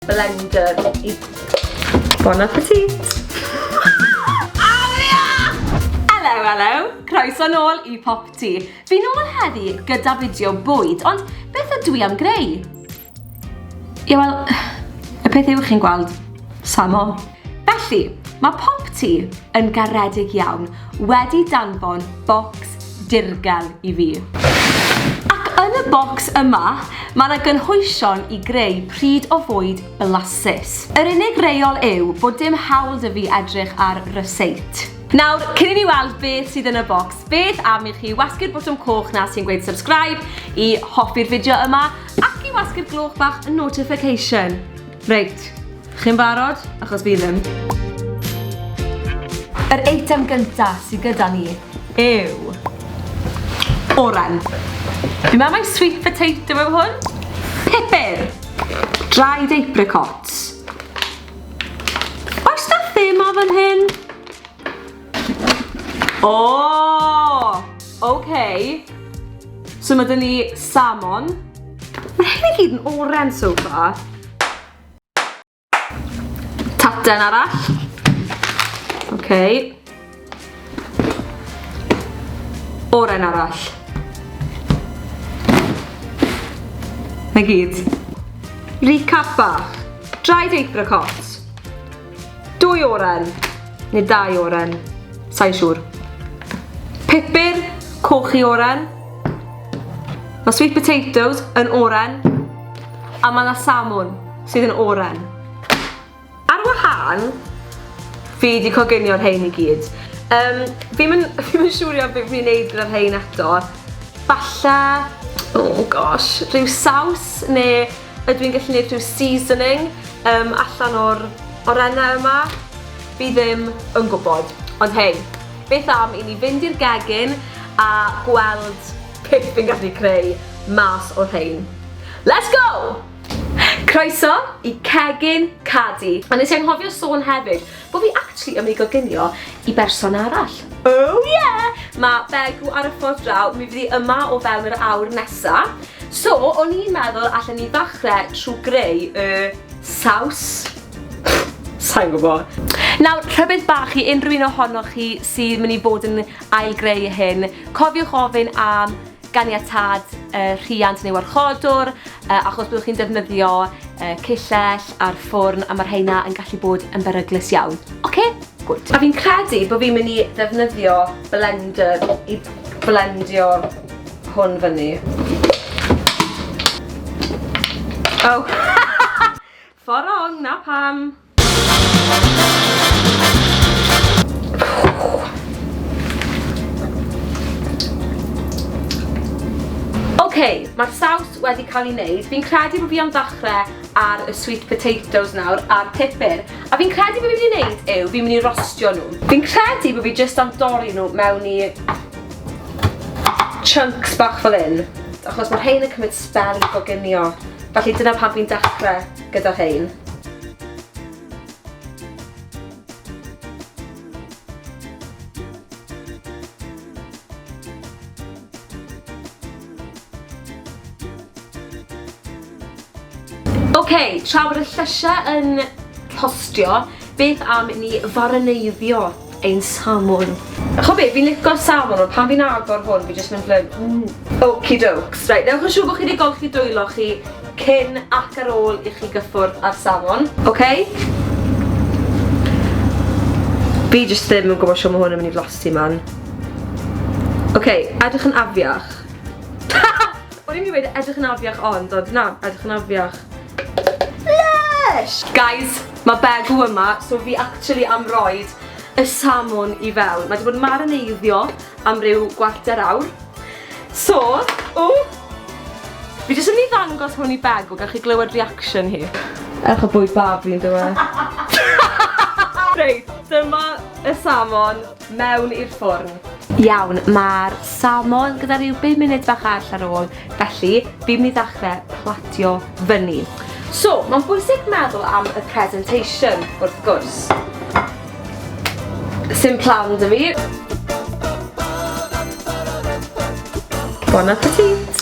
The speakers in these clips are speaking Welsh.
Blender i... Bon appetit! Aria! Hello, hello! Croeso nôl i Pop Ti. Fi'n ôl heddi gyda fideo bwyd, ond beth ydw i am greu? Ie, wel, y peth yw chi'n gweld, samo. Felly, mae popty yn garedig iawn wedi danfon bocs dirgel i fi. Ac yn y bocs yma, mae 'na gynhwysion i greu pryd o fwyd blasus. Yr unig reol yw bod dim hawl 'da fi edrych ar ryseet. Nawr, cyn i ni weld beth sydd yn y bocs, beth am i chi wasgu'r botwm coch 'na sy'n gweud subscribe, i hoffi'r fideo yma, ac i wasgu'r gloch bach notification. Reit, chi'n barod? Achos fi ddim. Yr eitem gyntaf sydd gyda ni yw... Oren. Fi'n meddwl mai sweet potato yw hwn? Pupur! Dried apricots. Oes 'na thema fan hyn? O! Ok. So ma' 'da ni salmon. Ma' hyn i gyd yn oren so far. Tarten arall. Ok. Oren arall. 'Na gyd. Recap bach. Dried apricot. Dwy oren, neu dau oren, sa'n siŵr. Pupur, coch i oren. Mae sweet potatoes yn oren. A mae yna salmon sydd yn oren. Ar wahân, fi wedi coginio'r rhain i gyd. Um, fi'n mynd siwrio beth fi'n neud gyda'r rhain eto. Falle, oh gosh, rhyw saws neu Ydw i'n gallu neud rhyw seasoning yym allan o'r orenau yma? Fi ddim yn gwybod, ond hei, beth am i ni fynd i'r gegin a gweld beth fi'n gallu creu mas o'r rhein. Let's go! Croeso i Cegin Cadi. A nes i anghofio sôn hefyd, Bo fi actually yn myn' i goginio i berson arall. Oh yeah! Ma' Begw ar y ffordd draw, mi fydd 'i yma o fewn yr awr nesa. So, o'n i'n meddwl allen ni ddachre trw greu y saws. Sai'n gwbo. Nawr, rhybudd bach i unrhyw un ohonoch chi sydd myn' i fod yn ail-greu hyn, cofiwch ofyn am ganiatâd y rhiant neu warchodwr, yy achos byddwch chi'n defnyddio yy cillell a'r ffwrn a ma' rheina yn gallu bod yn beryglus iawn. Ocê? Gwd. A fi'n credu bo' fi'n myn' i ddefnyddio blender i blendio hwn fyny. O! Ffor rong, 'na pam! Ok, mae'r saws wedi cael ei wneud. Fi'n credu bod fi am ddechrau ar y sweet potatoes nawr a'r pupur. A fi'n credu bod fi'n mynd i wneud yw, fi'n mynd i rostio nhw. Fi'n credu bod fi jyst am dorri nhw mewn i chunks bach fel hyn. Achos mae rhain yn cymryd sbel i goginio. Felly dyna pan fi'n dechrau. gyda rhein. Ok, tra bod y llysiau yn rhostio, beth am ni farineiddio ein salmon. Ch'o' be', fi'n lico'r salmon ond pan fi'n agor hwn fi jyst mynd fel 'yn mm. Okie dokes. Reit, newch yn siŵr bo' chi 'di golchi dwylo chi cyn ac ar ôl i chi gyffwrdd â'r salmon. Ok. Fi jyst ddim yn gwbo shwt ma' hwn yn myn' i flasu man. Ok, edrych yn afiach. O'n i'n myn' i weud edrych yn afiach ond, ond na, edrych yn afiach. Lush! Guys, mae Begw yma, so fi actually am roed y salmon i fewn. Mae wedi bod yn marineiddio am ryw gwarter awr. So, o! Fi jyst yn mynd i ddangos hwn i Begw, gallwch chi glywed reaction hi. Ewch y bwyd babi yn dweud. Reit, dyma y salmon. mewn i'r ffwrn. Iawn, mae'r salmon gyda rhyw 5 munud bach arall ar ôl, felly fi'n mynd i ddechrau platio fyny. So, mae'n bwysig meddwl am y presentation, wrth gwrs. Sim plan da fi. Bon appetit!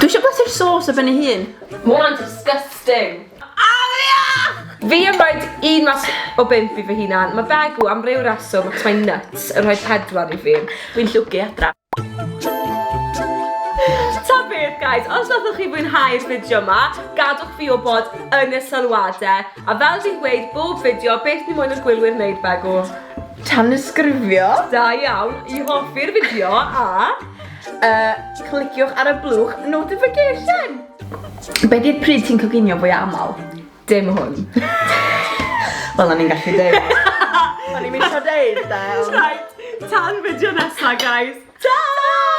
Dwi eisiau blasu'r sauce o fyny hun. Mae hwnna'n disgusting. Aria! Fi yn rhaid un mas o bimp i fy hunan. Mae Begw am ryw reswm ac mae'n nuts yn rhoi pedwar i fi. Dwi'n llwgu adra. Ta beth guys, os nathoch chi fwynhau'r fideo yma, gadwch fi wybod yn y sylwadau. A fel fi'n gweud bob fideo, beth ni moyn i'r gwylwyr wneud Begw? Tanysgrifio. Da iawn, i hoffi'r fideo a uh, cliciwch ar y blwch notification. Be di'r pryd ti'n coginio fwy aml? Dim hwn. Wel, o'n i'n gallu dweud. O'n i'n mynd o dweud, da. Right, tan fideo nesaf, guys. Ta!